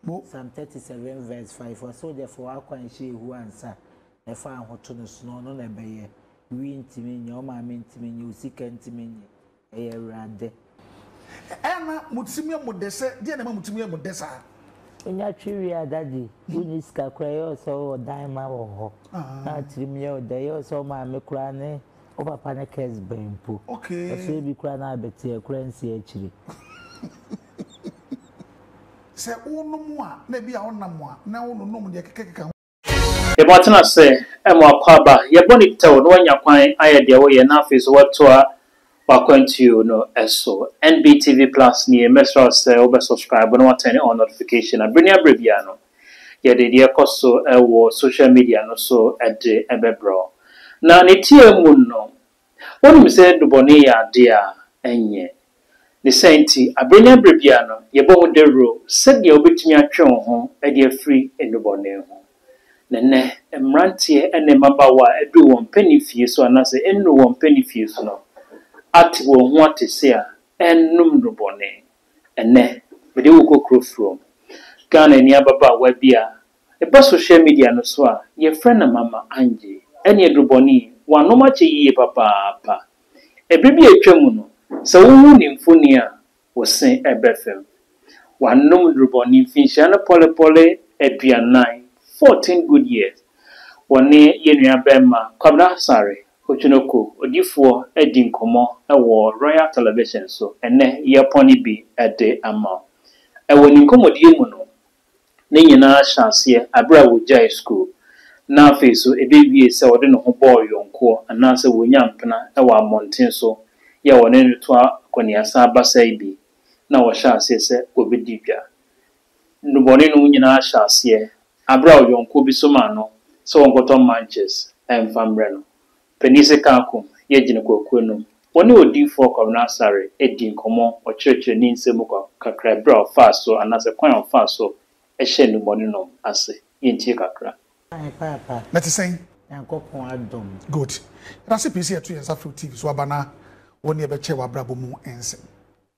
Mo. Psalm thirty seven verse five, Ɔsoogyafo a ɔakɔ annhyɛ ehu ansa, ɛfa ahoto no so no, ɔno na ɛbɛyɛ, wi ntumi nyɛ, wo maame ntumi nyɛ, wo sika ntumi nyɛ, ɛyɛ Awurade. Ɛyɛ na mo tirim yɛ mo dɛ sɛ, deɛn na ɛma mo tirim yɛ mo dɛ saa? Wonya twe wie a daddy, wonni sika koraa, ɛyɛ wo sɛ wowɔ dan ma wɔ hɔ, na wo tirim yɛ wo dɛ, ɛyɛ wo sɛ wo maame koraa ne wo papa ne curse bɛn mpo, Okay. ɛsoɛ bi koraa na abɛteɛ, ɛkora nsi akyire. Sɛ wonom a, na ebia wonam a, na wononom deɛ ɛkekakeka ho. Yɛma watena ase ma w'akwaaba. Yɛbɔ no tɛw na wanya kwan ayɛ deɛ woyɛ na afei nso watoa w'akwantuo no so. NBTV Plus nie, mɛsrɛ wo sɛ wobɛ subscribe na watɛne on notification na berɛ ne aberɛ biara no, yɛde deɛ ɛkɔ so wɔ social media no so de bɛbrɛ wo. Na ne tiaa mu no, Wonim sɛ nnubɔne yɛ ade a ɛnyɛ. Ne saa nti, bere ne bere biara no, yɛbɔ ho dawuro sɛnea wobetumi atwe wo ho de afiri nnubɔne ho. Na ɛnnɛ, mmeranteɛ ne mmabaawa a adu wɔn mpanimfie so anaasɛ nnuu wɔn mpanimfie so no ate wɔn ho ate se a ɛnnom nnubɔne. Ɛnnɛ, mede wo kɔ kuro Fromm, Ghana ni ababaawa bi a Ɛba sohyia midia no so a, yɛfrɛ no Mama Angie. Ɛne aduru bɔne yi, wɔanom akyɛ yiye papaapa. Bere bi a atwam no, sɛ wohu ne mfoni a, wo se ɛbɛfɛm. Wɔanom nnuru bɔne mfinhyia no pɔlepɔle aduanan, fourteen good years. Wɔne yɛn nuabarima Kwabena Asare, Otwenoko, odifoɔ adi nkɔmmɔ wɔ Royal Television so. Ɛnnɛ, yɛrepɔn no bi de ama wo. Wɔ ne nkɔmmɔdie mu no, Ne nyinaa hyɛ aseɛ berɛ a wɔgyaee sukuu, na afei nso ɛbɛwiee sɛ ɔde ne ho bɔɔ yɔnkoɔ anaasɛ wɔnya mpena wɔ ammɔnten so yɛ a wɔne no to akɔneasan basaa bi na wɔhyɛ aseɛ sɛ wɔbɛdi dwa. Nnubɔne nom nyinaa hyɛ aseɛ berɛ a ɔyɔnkoɔ bi somaa no sɛ ɔnkɔtɔ manches mfa mmrɛ no. Panyin Sekan Akum yɛ Gyenekwakuo nom. Ɔne Odiyifoɔ Kwabena Asare dii nkɔmmɔ, ɔkyerɛkyerɛ ne nsɛm mu kakra ɛberɛ a ɔfaa so anaasɛ kwan a ɔfaa so hyɛɛ nnubɔne nom ase. Yɛntie kakra. Ae paapa. Na ɛte sɛn? Nyankopɔn adom. Good. Yɛda ase pii sɛ yɛto yɛn nsa frɛ wo TV so aba na wo ne yɛbɛkyɛ w'abrabɔ mu nsɛm.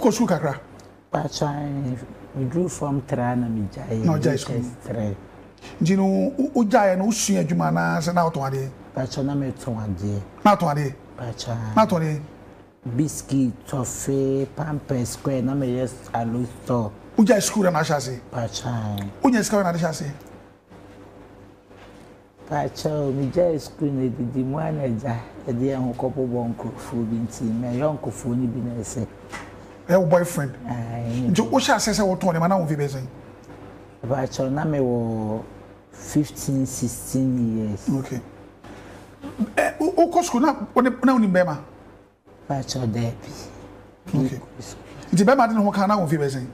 Wokɔ sukuu kakra? Mpacho ae me duru form traa na me gyaeɛ Na ɔgyae sukuu JS three. Nti no wo gyaeɛ no wo sua adwuma anaa sɛ na wotɔn adeɛ? Mpacho na me tɔn adeɛ. Na atɔn adeɛ? Mpacho ae. Na atɔn deɛn? Biscuit, toffee, pampers, square na me yɛ alo store. Wo gyae sukuu da na ahyɛ aseɛ? Mpacho ae. Wo nya sika bɛn na ade hyɛ aseɛ? Pakyɛw, migyae skuul na edidi mu a na egya yɛde hɛn ho kɔbɔbɔ nkorɔfo bi ntsi me yɔnkofo no bi na ese. Ɔyɛ wo boyfriend? Ae, nye bi. Ntsi wohyɛɛ ase sɛ wotõ ndzɛmba na wo mfe bɛyɛ dzen? Pakyɛw, na mowɔ fifteen, sixteen years. Okay. Ɛ, wokɔ skuul na wo ne, na wo nim bɛrima? Pakyɛ daabi. Okay. Nti bɛma de ne ho kan na wɔ mfie bɛyɛ sɛn?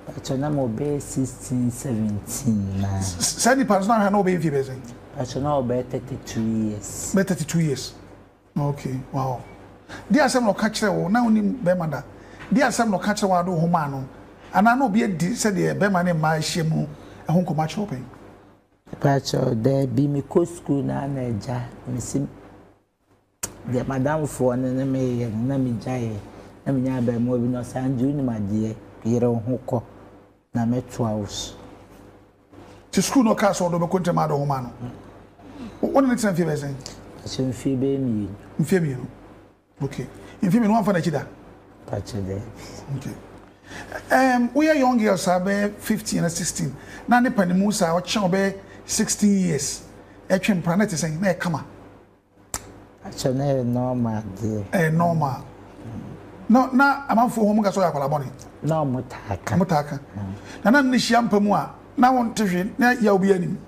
Pakyɛ na mo bɛyɛ sixteen seventeen na. Sɛ nipa nso na ahwɛ na ɔbɛyɛ mfie bɛyɛ sɛn? Pakyɛ na ɔbɛyɛ thirty two years. Bɛyɛ thirty two years. Okay, wow. Di asɛm na ɔka kyerɛ wo na wonim bɛma da. Di asɛm na ɔka kyerɛ wo a de wo ho maa no anaa na obi adi sɛdeɛ bɛma ne mmaa ahyia mu ɛho nkɔmmɔ akyerɛ wo pɛn? Pakyɛ daabi, mekɔ sukuu na na agya mesi. deɛ m'adamfoɔ no ne me reyɛ no, na megyaeɛ. Na menya abarimaa bi, na ɔse, Andrew, wonim adeɛ? Yere wo ho kɔ, na mɛtoa wo so. Nti sukuu no ɔkaa sɛ ɔde ɔbɛkɔ ntam ade ɔhoma no wo ne ne tena mfie bɛyɛ sɛn? Ɛsɛ mfie bɛyɛ mmienu. Mfie mmienu ok mfie mmienu wamfa n'akyi da? Pakyɛ dɛ. Ok um, woyɛ young girl saa bɛyɛ fifteen na sixteen na ne panimu saa ɔkyɛn ɔbɛyɛ sixteen years ɛtwe mpena na ɛte sɛn na ɛkama? akyɛ na yɛ normal deɛ ɛyɛ normal na na amanfoɔ ho mu ka sɛ ɔyɛ akwadaa bɔne na ɔmo taa ka ɔmo taa ka na na ne hyia mpa mu a na wɔn te hwe na yɛ obi anim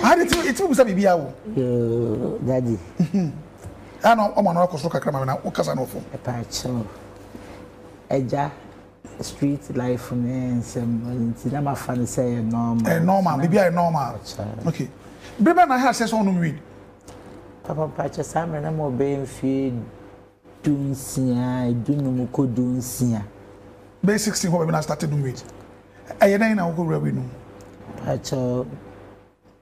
ade ti eti mu sɛ biribi awo yoo dadi ɛna ɔmo ano akɔ soro kakra ma na ɔkasa na ɔfɔ ɛpa akyɛw ɛgya. Street life ne nsɛm no nti na mafa no sɛ ɛyɛ normal. Ɛyɛ normal, biribi a ɛyɛ normal. Okay. Bere bɛn na ɛha sɛ sɛ ɔnom weed? Papa mpakyɛ saa mmerɛ na ma ɔbɛyɛ mfie du nsia, du num kɔ du nsia. Bɛyɛ 16 hɔ baabi na astate nom weed. Ɛyɛ dɛn na wokɔwura weed no mu? Mpakyɛ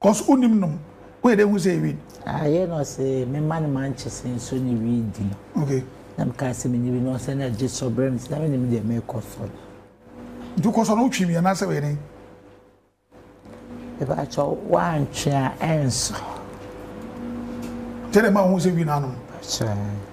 Cos wo nim nom wo yɛ dɛ hu sɛ weed. Ayɛ na ɔse me ma no manches nso ne weed di no okay na me kaa sɛ me nim bi na ɔse na gye sɔ brɛ me sɛ na me nim deɛ me kɔ sɔ no. Nti wo kɔ sɔ no wo twi bi anaa sɛ ɔyɛ dɛn. Mepa kyɛw wo antwe a ɛnsɔ. Kyɛ dɛ ma wo hu sɛ weed na anom. Pakyɛw.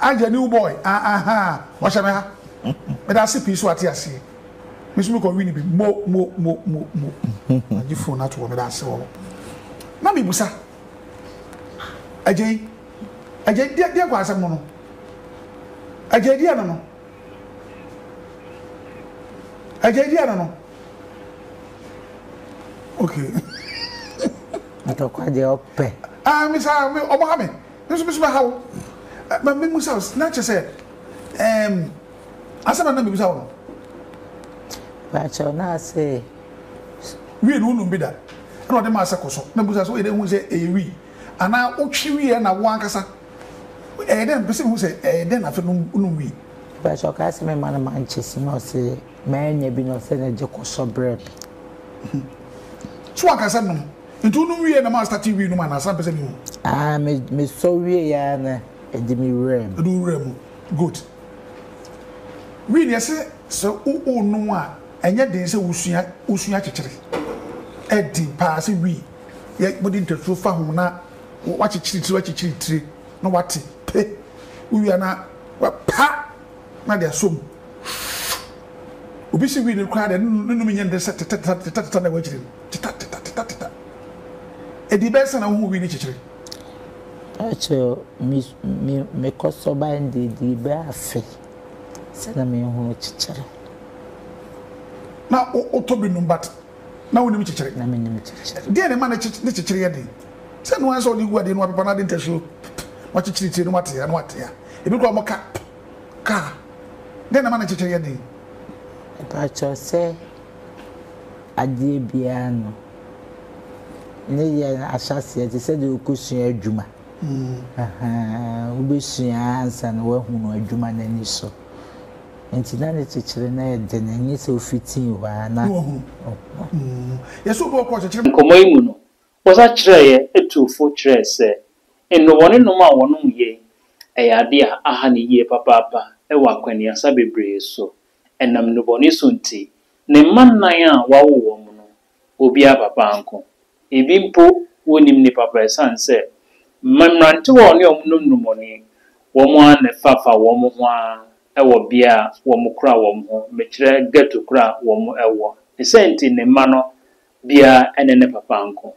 Agye a new boy ah ahaa wahyɛ me ha meda ase pii so wate aseɛ me so me kɔ wini bi mo mo mo mo mo agye phone ato hɔ meda ase wɔ hɔ na me busa agye yi agye deɛ deɛ kɔ asɛm no no agye deɛ no no agye deɛ no no okay atɔkwa deɛ ɔpɛ ah me saa me ɔmo ha me Me nso me so bɛhaw. Ma mimmisa wo, na kyerɛ sɛ, ɛɛm, asɛm a na mebisa wo no. Mepakyɛw, na ase sɛ. Wii no wonom bi da? Ɛna ɔde maa sɛ kɔ so na bisa sɛ woyɛ dɛn hu sɛ ɛyɛ wii anaa wotwe wii ɛna wo ankasa ɛyɛ dɛn mepɛ sɛ mehu sɛ ɛyɛ dɛn na afei nom wonom wii. Mepakyɛw ɔkae sɛ memma no mankyɛse na ɔse mannya bi na ɔse na gye kɔ sɔ brɛ me. So wanka sɛ nom? Nti wo nom wie na ma starte wii nom anaa saa mpɛ sɛ me hu. Aah me me sɔ wieɛ ara na ɛdi me wura mu. Ɛdi wo wura mu good. Wii deɛ se sɛ wo wo nom a ɛnyɛ den sɛ wo sua wo sua kyekyere ɛden paa sɛ wii yɛ mo de ntaturo fa ho na wa kyekyere tire wa kyekyere tire na wa te pe wo wie a na wa pa na de asɔ mu shoo obi se wii no koraa deɛ ne nom nyɛ ne de sɛ tetɛtetɛtetɛtetɛ na ɛwɔ akyire no. Teta teta teta teta Ɛdi bɛn sɛ na wohu wii ne kyekyere? Ka kyerɛ o me me me kɔsɔ ban de ɛdi bɛn afe sɛ na menhunu kyekyere? Na wo wotɔ bi nom but na wonim kyekyere? Na menim kyekyere. Deɛn na ɛma ne kye ne kyekyere yɛ den? Sɛ ɛno ara ne sɛ wɔde gu adeɛ no wɔapepa no ade ntasuo ppp wɔakyekyere tire no wɔatea no wɔatea ɛbi koraa wɔka ppp kaa deɛn na ɛma ne kyekyere yɛ den? Mepa kyɛw sɛ. adeɛ biara no ne yɛ ahyɛaseɛ te sɛ deɛ wokɔsua adwuma wobɛsua ansa na woahunu adwuma no ani so nti na ne kyekyere no yɛ den ɛnyɛ sɛ wofitii hɔ a na yɛsɛ obi ɔkɔ kyekyere Nkɔmmɔ yi mu no, wɔsa kyerɛeɛ tuu fo kyerɛɛ sɛ nnubɔne nom a wɔnom yei yɛ adeɛ a aha no yie papaapa wɔ akwannuasa bebree so ɛnam nnubɔne so nti, ne mma nnan a wawo wɔn no, obiara papa nko. Ebi mpo, wonnim ne papa esiane sɛ mmerantewa a ɔne wɔn nom nnubɔne, wɔn ara na ɛfa fa wɔn ho ara wɔ bea a wɔkora wɔn ho, mekyerɛ ghetto koro a wɔwɔ. Ne saa nti, ne mma no biara ne ne papa nko.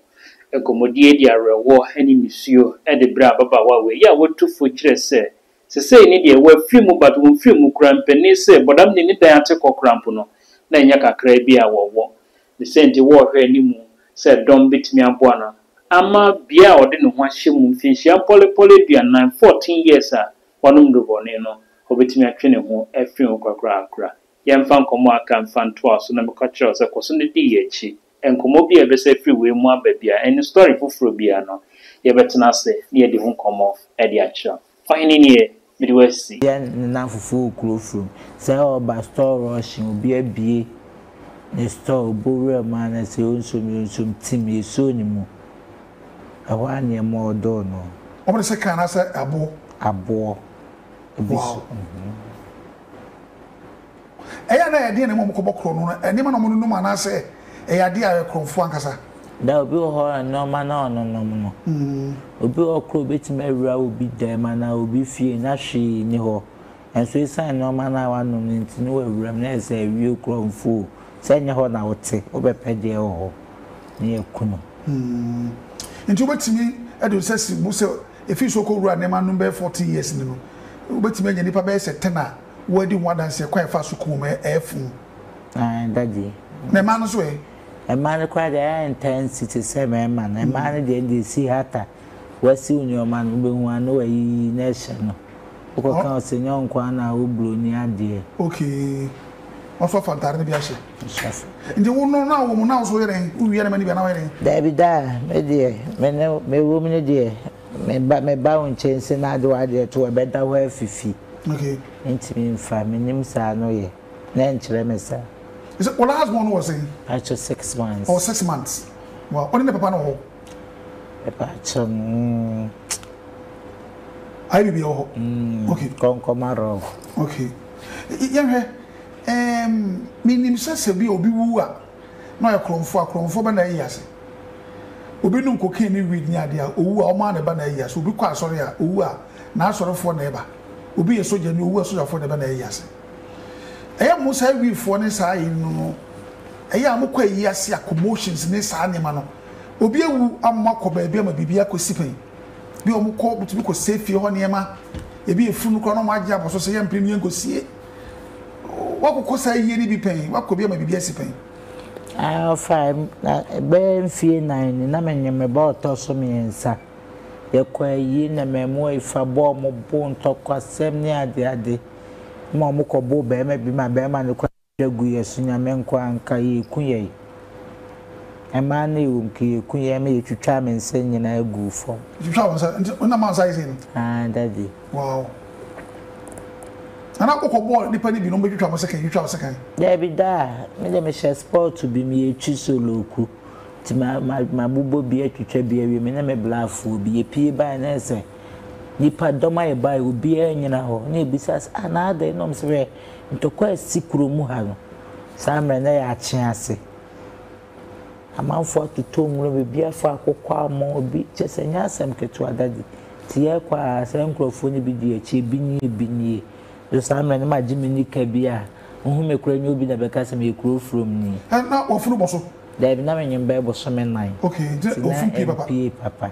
Nkɔmmɔdie yi de awerɛhoɔ ne nisuo de brɛ ababaawa wei a watu fo kyerɛ sɛ, sesei ne deɛ, wafiri mu but wonfiri mu koraa mpanin sɛ bɔdam ne ne dan ate kɔ koraa mpo no, na ɛnyɛ kakraa bi a wɔwɔ. Ne sɛ nti wɔrehwɛ animu sɛ dɔm bɛtumi aboa no ama bea a ɔde ne ho ahyɛ mu mfinhyia mpɔlepɔle aduanan, fourteen years, a wanom nnurubɔne no, ɔbɛtumi atwe ne ho afiri ho korakoraa. Yɛmfa nkɔmmɔ a aka mfa ntoa so na meka kyerɛ wo sɛ kɔ so na di yɛn akyi. Nkɔmmɔ bi a yɛbɛsa afiri wei mu aba biara, ɛne story foforɔ biara no, yɛbɛtena ase na yɛadi ho nkɔmmɔ de akyerɛ wo. Ɔhene nie, mede wo asi. Yɛ nnamfofoɔ wɔ kuro firi mu. Sɛ ɔba store rushing obi abue ne store ɔbɔ wura mu anasɛ ɔnsom yɛ ɔnsom tim yɛ soo ne mu ɛhɔ ara na yɛma ɔdoo no. Wɔde sekan anaasɛ ɛboɔ. Aboɔ bi so. Wow. Ɛyɛ a na ɛyɛ den a na mmom wɔkɔbɔ korɔno no nneɛma na wɔnonom anaasɛ ɛyɛ ade a ɛyɛ korɔmfo ankasa? Ná obi wɔ hɔ a nneɛma na ɔnonom no, obi wɔ hɔ koraa a obetumi awura obi dan anaa obi fie na hwee nni hɔ, nanso esiane nneɛma no a wanom no nti na wawuram na ayɛ sɛ awi o, korɔmfo o. Sɛ ɛnyɛ hɔ na wote, wobɛpɛ deɛ ɛwɔ hɔ na yɛaku no. Enti wobetumi de wo nsa asi mu sɛ Efi so kɔ wura nneɛma no bɛyɛ fourteen years ni no, wobɛtumi anya nnipa bɛyɛ sɛ ten a wɔadi ho adanseɛ kwan a ɛfa so kuo mu ɛ, ɛyɛ fuu. Aane daddy. Na mmaa no nso ɛ? Mmaa no koraa deɛ ɛyɛ intense te sɛ mmarima no. Mmaa no deɛ ɛnde si hata, wasiw nneɛma no, wobɛhu a na wayiyi na ɛhyɛ no. Wokɔ ka ɔse nyɛ ɔnkoaa na awo broni adeɛ. Okay ɔfa fa ntare no bi ahyɛ. Nti wo no na wom na wo so woyɛ dɛn wo wia nɛma no bi anaa woyɛ dɛn. Daabi daa me deɛ me ne mewom no deɛ meba meba wo nkyɛn se na ade wadeɛ to ɛbɛda hɔ afifi mentimi mfa menim saa no yɛ na ɛnkyerɛ me saa. Wo last born no wɔ sɛn? Pacho six months. Ɔwɔ six months. Wow. Ɔne ne papa no wɔ hɔ? Ɛpaakyɛw no mm. Ayɛ biribi wɔ hɔ. Mm, okay. Kɔnkɔma rock. Okay. Yɛhwɛ ɛɛm menim sɛ sɛ bi obi wu a na ɔyɛ korɔmfo a korɔmfo bɛ na ayi ase. Obi nom cocaine ne weed ne adeɛ a owu a ɔmo a na ɛba na ayi ase. Obi kɔ asɔre a owu a n'asɔrefoɔ na ɛba. Obi yɛ sogya ni owu a sogyafoɔ na ɛba na ayi ase. Ɛyɛ mo saa wifoɔ ne saa ayi no no ɛyɛ a mokɔ ayi ase a commotions ne saa nneɛma no. Obi awu a mo akɔ baabi ama biribi akɔ si pɛn bi a wɔn kɔ bɛtumi kɔ sɛ fie hɔ nneɛma ebi efunu no koraa na wɔn agye abɔ so sɛ yɛn mpere no yɛn kɔ sie wakɔ kɔ saa yie no bi pɛn wakɔ bi ama biribi asi pɛn. Afa ɛbɛyɛ mfie nan ni na menye me ba ɔtɔ so mmiɛnsa yɛkɔ ayie na mmaamua yi fa bɔɔ mo bo ntɔkwasɛm ne adeade ma wɔn kɔ bɔɔ bɛrima bi ma bɛrima no kɔ. Da gu yɛ so nyame nko a nka yeku yɛn ɛmaa no ɛwom ka yeku yɛn me yɛtwitwaa me nsa nyinaa guu fam. Yɛtwitwaa wo nsa nti wonam ansa ayɛ sei no. Aah daddy. Wow nana wokɔ bɔɔ nipa no bi na wɔn bɛ twitwa wɔn sekan yɛtwitwa wo sekan. Daabi daa me deɛ me hyɛ sport bi me yɛ twi solo ku nti ma ma ma bobɔ bi atwitwa bi awie me ne me blaafoɔ bi yɛ pie bae na yɛ sɛ nipa dɔm ayɛ bae obiara nyina hɔ na yɛ bisa sɛ ah na adɛn na wɔn sɛ hwɛ. ntɔkwa a asi kurow mu ha no, saa mmerɛ no na ɛyɛ akye ase. Amanfoɔ atotɔ nwura mu, ebi afa akokɔ ama obi, kyerɛ sɛ ɛnyɛ asɛm ketewa Daddy. Nti yɛrekɔ a, saa nkurɔfoɔ no bi di akyi, ebi nie, ebi nie. Nso saa mmerɛ no magye me nika bi a, wohu me koraa nyɛ obi na bɛka sɛ meyɛ kurow furomni. Ɛ, na wɔfunu bɔ so? Daabi, na menwene bɛyɛ bosome nnan. Okay, nti na ɛmpue papa.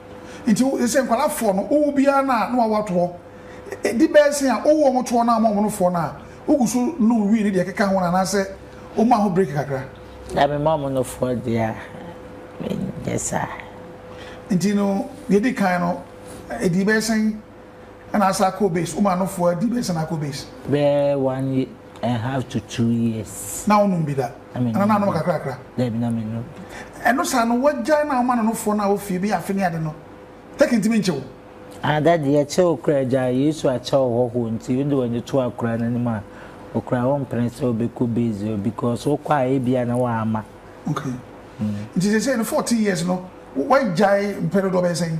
Nti wo sese nkwadaa foɔ no wo wo biara no a na wawo atoɔ ɛdi bɛɛ se a wowo wɔn toɔ no a wɔn a wɔn no foɔ no a wogu so nom wii ne deɛ ɛkeka ho no anaasɛ wo ma ho break kakra. Na me ma wɔn no foɔ deɛ a me nyɛ saa. Nti no deɛ ɛdi kan no ɛdi bɛɛ sɛn ɛna asa akɔ base wo ma no foɔ ɛdi bɛɛ sɛn na akɔ base. Bɛɛ one I have to two years. Na wo nom bi da? Ana na anom kakrakra? Dabi na me nom. Ɛno saa no wagyae na woma nonofoɔ no a wofie bi afe ne ade no tɛke ntimi nkyɛ wo? Ah daddy yɛkyɛ wo kora agyae Yesu akyɛ wo hɔhoɔ nti wode w'ani to akora no anim a okura wo mpene sɛ wobɛkɔ base hɔ because wokɔ a ebia na wama. Okay. Nti sesei no 14 years no wagyae mpɛ dodoɔ bɛyɛ sɛn?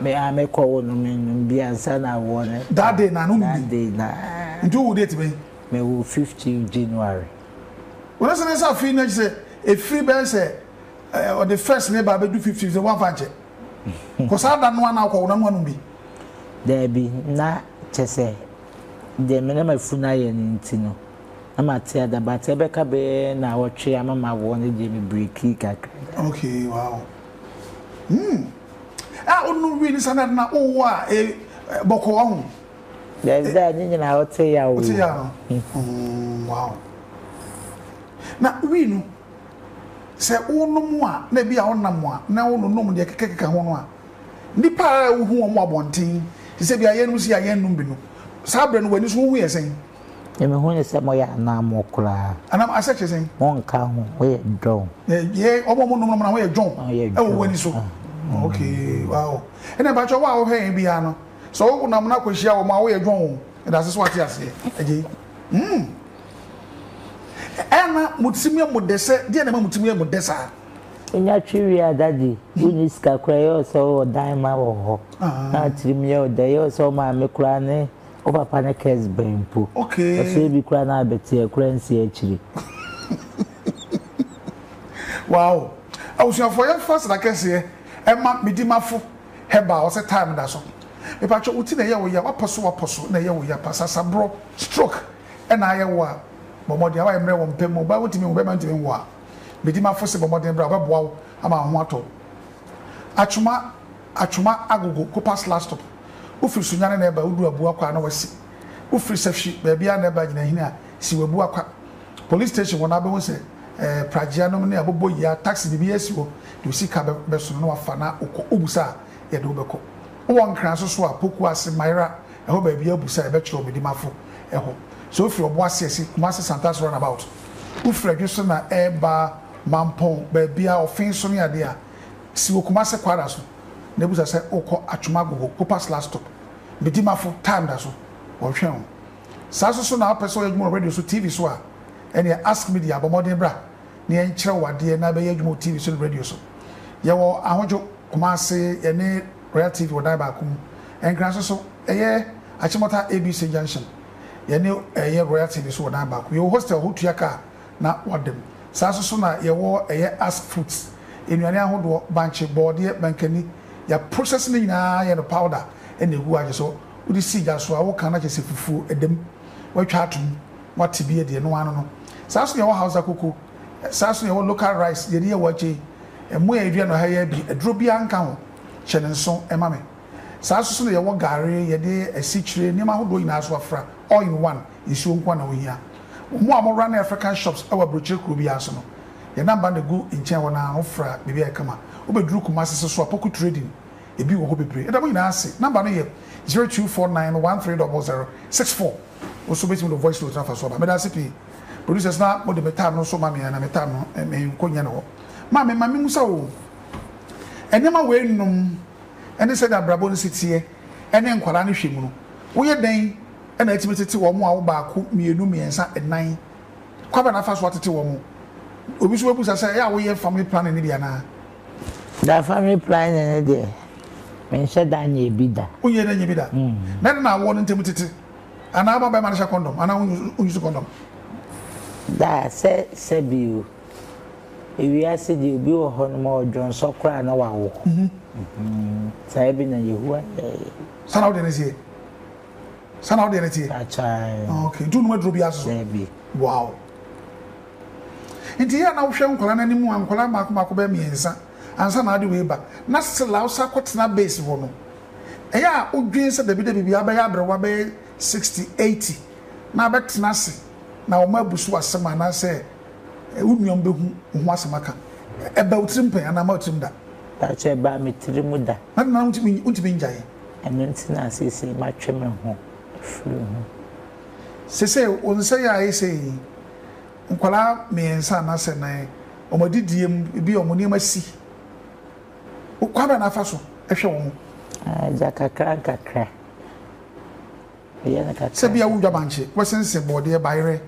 me a me kɔ wo no me num bi ansa na awoɔ no that day na no num bi day na nti wo date bɛn me wo 15 January wɔn sɛ ne nsa afiri na sɛ efiri bɛyɛ sɛ ɔde eh, first labour abɛdu 15 sɛ wɔafa nkyɛ kɔ saa da no ana akɔ wo na no anum bi daabi na kyɛ sɛ deɛ me na mafu no ayɛ no nti no na mate adaba te ɛbɛka bɛyɛ na awɔtwe ama ma awoɔ no deɛ me breki kakra okay wow Hmm. A wo no wi ni sa na na wo wa e bɔkɔ wa ho. There's that ni nyina o te ya o. O te ya no. Hmm. Wow. Na wi no sɛ wo no mo a na bi a wo nam a na wo no nom de keke keke ho no a nipa a wo hu wɔn abɔnten sɛ bi a yɛn no si a yɛn nom bi no saa bere no wani so wo hu yɛ sɛn. Na mehu no sɛ moyɛ anammɔn koraa. Anam asɛ kyerɛ sɛn? Monka ho, woyɛ dɔn. Yɛ wɔn a wɔnom nom na wɔyɛ dɔn wɔ wo ani so. Ok, wow. Ɛna mpakyɛ wo a wohwɛ yɛn biara no, sɛ wonam no akɔhyia wɔn a, woyɛ dɔn o. Ɛda ase sɛ wate aseɛ. Agye. Hmm. Ɛna mo tirim yɛ mo dɛ sɛ, deɛ na ɛma mo tirim yɛ mo dɛ saa? Wonya twe wie a, daddy, wonni sika koraa, ɛyɛ wo sɛ wowɔ dan ma wɔ hɔ. Na wo tirim yɛ wo dɛ, ɛyɛ wo sɛ wo maame koraa ne. Wo papa ne curse bɛn mpo. Okay. Ɔsɛe bi koraa na abɛte ɛkora nsi akyiri. Wow. Abusuafoɔ yɛmfa aseda kɛseɛ ɛma Medimafo herbal ɔsɛ time da so. Mepatwɔ wo ti na ɛyɛ wo ya wapɔ so wapɔ so na ɛyɛ wo ya pa sasaborɔ stroke ɛna ayɛ wo a bɔ mmɔden awae mmerɛ wɔ mpɛ mu ɔbaa wontumi nwo bɛma ntumi nwo a Medimafo se bɔ mmɔden bra ɔbɛboa wo ama wo ho atɔ wo. Atwoma. Atwoma agogo kopa slastop Wofiri Sunyani na ɛba wodu Abua kwa a na wasi Wofiri Safhyi baabiara na ɛba Gyina hini a si w'Abua kwa Police station hɔ no abɛhu sɛ ɛɛ Pragea nom ne abobɔ yi a taxi biribi a asi hɔ Deɛ osi ka bɛ bɛsono na wafa na wokɔ Wobusa a yɛde wo bɛkɔ Wowɔ Nkran so so a Poku ase Mayera ɛhɔ baabiara wobusa a yɛbɛkyerɛ wo Medimafo ɛhɔ Sɛ wofiri Ɔboase asi Kumasi Santace runabout Wofiri Adwo so na ɛɛba Mampɔn baabiara Ɔfee so ne adeɛ a si wɔ Kumase Kwara so na bisa sɛ wokɔ Atwom Agogo, Copas last stop, Medimafo, time da so, wɔhwehwɛ ho. Saa nso so na wopɛ sɛ ɔyɛ adwuma wɔ radio so, TV so a, ɛneɛ Ask Media bɔ mmɔden bra na yɛn kyerɛ wo adeɛ na bɛyɛ adwuma wɔ TV so ne radio so. Yɛwɔ Ahodwo, Kumase, yɛne Royal TV wɔ dan baako mu. Nkran nso so, ɛyɛ Akyemɔta ABC Junction, yɛne ɛyɛ Royal TV so wɔ dan baako. Yɛwɔ hostel hɔ tua car na wɔdem. Saa nso so na yɛwɔ ɛyɛ ask fruits, nnuane ahodoɔ, bankye, bɔɔdeɛ, mankani, yɛ process ne nyinaa yɛ no powder na ɛgu agye so, wode si gya so a woka no akyerɛ sɛ fufuo, ɛdem, watwa ato mu, wate bi adi, ɛno ara no no. Saa nso na yɛwɔ Hausa koko, saa nso na yɛwɔ local rice, deɛ yɛde yɛ waakye yi, ɛmo a yɛdua no ha yi ara bi, aduro biara nka ho, hyɛ no nso ma me. Saa ara nso na yɛwɔ gare, yɛde asikyire, nneɛma ahodoɔ nyinaa nso afra, all in one, nsuo nko ara na wohia. Mo a mo runne African shops wɔ aburokyire kuro biara nso no, yɛn namba na ɛgu nkyɛn hɔ no ara, wofra a biribiara yɛ kama. Wobɛduru Kumasi nso so a, Poku Trading, ebi wɔ hɔ bebree. Yɛda mo nyinaa ase. Namba no yɛ zero two four nine one three double zero six four. Wo nso wobɛtumi de wo voice note no afa so aba. Meda ase pii. Producers na mode me time no nso ma me a, na me time no menkɔ nyɛ ne hɔ. Ma me, ma me mmusa oo, nneɛma wei nom, ne sɛnea abrabɔ no si teɛ ne nkwadaa no hwɛ mu no, woyɛ dɛn na atumi tete wɔn a wo baako, mmienu, mmiɛnsa, nnan? Kwan bɛn na afa so atete wɔn? Obi nso bɛbisa sɛ, Ɛyɛ a woyɛ family planning no bi anaa? Daa family planning no deɛ, menhyɛ da nyɛ bi da. Wonyɛ da nyɛ bi da? Na ɛno na awoɔ no ntam tete? Anaa woma barima no hyɛ kɔndɔm anaa ɔnyi so kɔndɔm? Daa, sɛ sɛbi o. Ewiase deɛ obi wɔ hɔ no ma ɔdwonsɔ koraa na wawo. Saa bi na Yehowa yɛeɛ. Saa na wodeɛ no teɛ? Saa na wodeɛ no teɛ? Akyɛe. Ah, okay. Nti wonum aduro bi ase so? Dabi. Wow. Nti yɛ na wohwɛ nkwadaa no anim a nkwadaa mmaako mmaako bɛyɛ mmiɛnsa ansa na ade wei ba na still a wosan akɔtena base hɔ no ɛyɛ a wodwen sɛ dabi dabi bi abɛyɛ aberewa bɛyɛ sixty eighty na abɛtena ase na wɔn abu so asɛm anaasɛ Ɛ wo nua bɛhu wo ho asɛm aka. Ɛ ba wo tirim pɛn anaa ɛmma wo tirim da. Daakye ɛ ba me tirim da. M'ade no ara wontumi wontumi ngyae. Ɛno nti na seesei matwe me ho afiri ho. Seesei wo nsa yi a ayɛ sɛ yi nkwadaa mmiɛnsa anaa sɛ nan wɔn adidie mu ebi wɔn nneɛma si wo kwan bɛn na afa so hwɛ wɔn. Gya kakra nkakra yɛ no kakra. Sɛ bia wo dwabankye wobɛsensen bɔɔdeɛ bayerɛ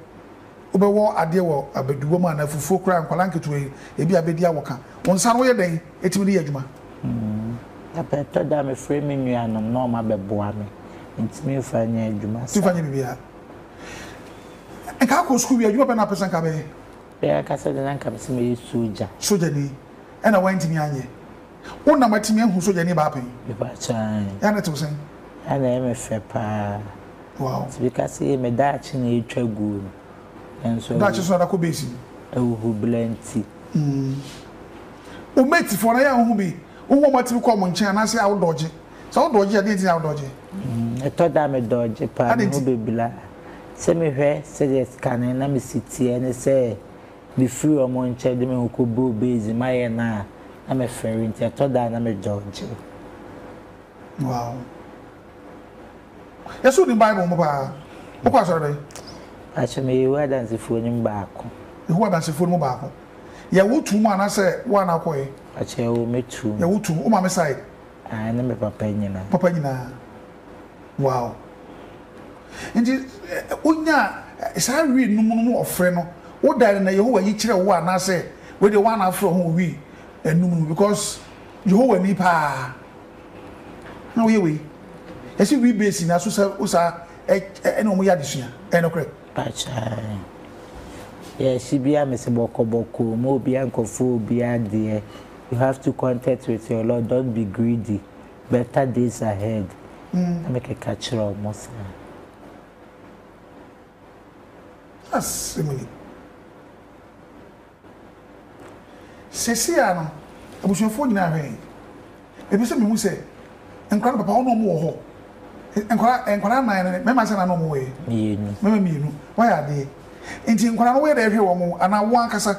Wobɛwɔ adeɛ wɔ abaduwa mu anaa afufuo koraa, nkwadaa nketewa yi, ebi a bɛdi awoka. Wo nsa no, woyɛ dɛn tumi de yɛ adwuma? Na pɛ ɛtɔ da a, mefrɛ me nuanom na wɔabɛboa me. Mentumi mfa nyɛ adwuma saa. Tumi fa nyɛ biribiara. Nka akɔ sukuu wie a, adwuma bɛn na wopɛ sɛ nka wobɛyɛ? Me ankasa deɛ, na anka mepɛ sɛ mɛyɛ sogya. Sogyani? Ɛnna woantumi anyɛ? Wo na matumi ahu so yɛne baa pɛn. Mepakyɛ ae. Yɛ a na ɛtew sɛn? Yɛ a na ɛyɛ me fɛ paa. Wow. Nti bi ka se me daakye na etwa guo no. Nanso awu. Daakye so na da kɔ base yi. Ahuhubra nti. Mm. Wo mate foɔ no ayɛ a wohu bi? Wohu wɔn a wɔatumi kɔ wɔn nkyɛn anaasɛ a wo dɔɔgye? Sɛ wo dɔɔgye a, deɛn nti na wo dɔɔgye? Mm, ɛtɔ da a me dɔɔgye paa, me ho bebira. Sɛ mehwɛ sɛdeɛ kane na me si teɛ ne sɛ Mefiri wɔn nkyɛn de me ho kɔbuu beads mu ayɛ no a, na mefɛre nti ɛtɔ da a na medɔɔgye. Wow. Yɛ sɛ wonim Bible mu paa. Wokɔ asɔre bɛn? Pastor, meyɛ Yehowa Adansefoɔ no mu baako. Yehowa Adansefoɔ no mu baako. Yɛ wo tu mu anaasɛ woa na wokɔeɛ? Pastor, yɛwɔ me tu mu. Yɛ wo tu mu. Wo maame side? Ae ne me papa nyina. Papa nyinaa wow nti wonyaa saa wii no mu no mu ɔfrɛ no wo dae no na Yehowa yi kyerɛ wo anaa sɛ wei deɛ woana afrɛ ho wɔ wii no mu no because Yehowa ni paa na woyɛ wei yɛsi wii base nyinaa so sɛ wo saa ɛne wɔn yɛ adesua ɛyɛ no korɛ. Pakyɛw yɛsi bia mesi bɔkɔbɔkɔ mu obia nkɔfo obia deɛ You have to content with your Lord don't be greedy better days ahead na me keka kyerɛ ɔmo saa. Asɛm ni. Sɛsi a no abusuafoɔ nyinaa ahwɛ yɛn. Mepɛ sɛ mehu sɛ nkwadaa no papa hɔ na wɔn wɔ hɔ. Nkwadaa nkwadaa nan no mmarima sɛ na na wɔn wɔ yɛ. Mmienu. Mmarima mmienu wɔyɛ adeɛ. Nti nkwadaa no wɔyɛ dɛ hwɛ wɔn anaa wɔn ankasa.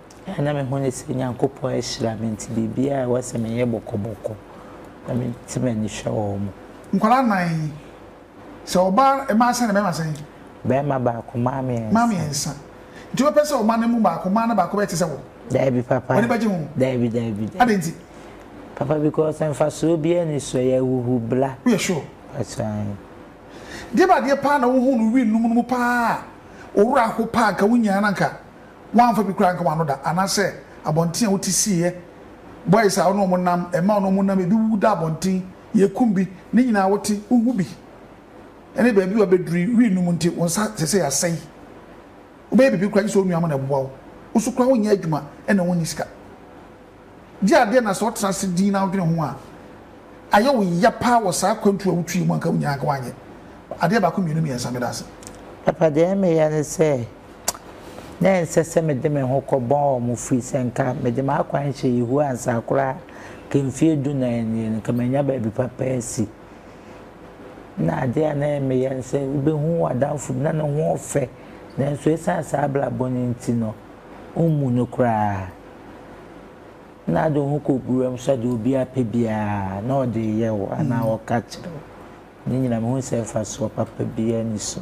a na mehu ne sɛ Nyankopɔn ahyira me nti biribiara a ɛwɔ sɛ meyɛ bɔkɔbɔkɔ na mete m'ani hwɛ wɔn. Nkwadaa nnan yi, sɛ ɔbaa mmaa sɛn na bɛrima sɛn? Bɛrima baako, mmaa mmiɛnsa. Mmaa mmiɛnsa. Nti wobɛpɛ sɛ wo mma no mu baako, mmaa no baako bɛyɛ te sɛ wo? Daabi papa. W'ani bɛgye ho? Daabi, daabi, daabi. Adɛn nti? Papa, because mfasoɔ biara nni so, ɛyɛ ahuhubla. Woyɛ sure? Mpakyɛ aane. Deɛ bɛ adeɛ paa na wohuu no wii nom no mu paa a owura ho paa nka wonyaa no anka wɔamfa bi koraa anka wɔn ano da, anaasɛ abɔnten a wote siiɛ, boys a wo ne wɔn nam, mmaa a wo ne wɔn nam, ebi wuwu da abɔnten, yɛkum bi, ne nyinaa wote, wohu bi, ɛne baabi a wɔabɛduru wii no mu nti wo nsa seesei asɛe. Wobɛyɛ biribi koraa gye sɛ wo nua mo na ɛboa wo. Wo nso koraa wonyɛ adwuma na wonni sika. Gye adeɛ na sɛ ɔtena ase dinn na wodwene ho a, ayɛ wo ya paa wɔ saa akwantuo a wotui mu a nka wonyaa anka woanyɛ adeɛ baako mmienu mmiɛnsa. Meda ase. Papa deɛ meyɛ ne sɛ na ɛnsɛ sɛ mede me ho kɔbɔ wɔn firi sɛ nka mede m'akwan hyɛ Yehowa nsa koraa nka mfeɛ dunan nie no nka manya baabi papa asi. Na adeɛ a na meyɛ ne sɛ wobɛhu w'adamfo bi na ne ho ɔfɛ nanso ɛsiane saa abrabɔ no nti no wommu no koraa. na ade wo ho kɔgu wura mu sɛ deɛ obiara pɛ biara na ɔde reyɛ wo anaa mm. ɔka kyerɛ wo ne nyinaa mehu sɛ mfasoɔ papa biara ni so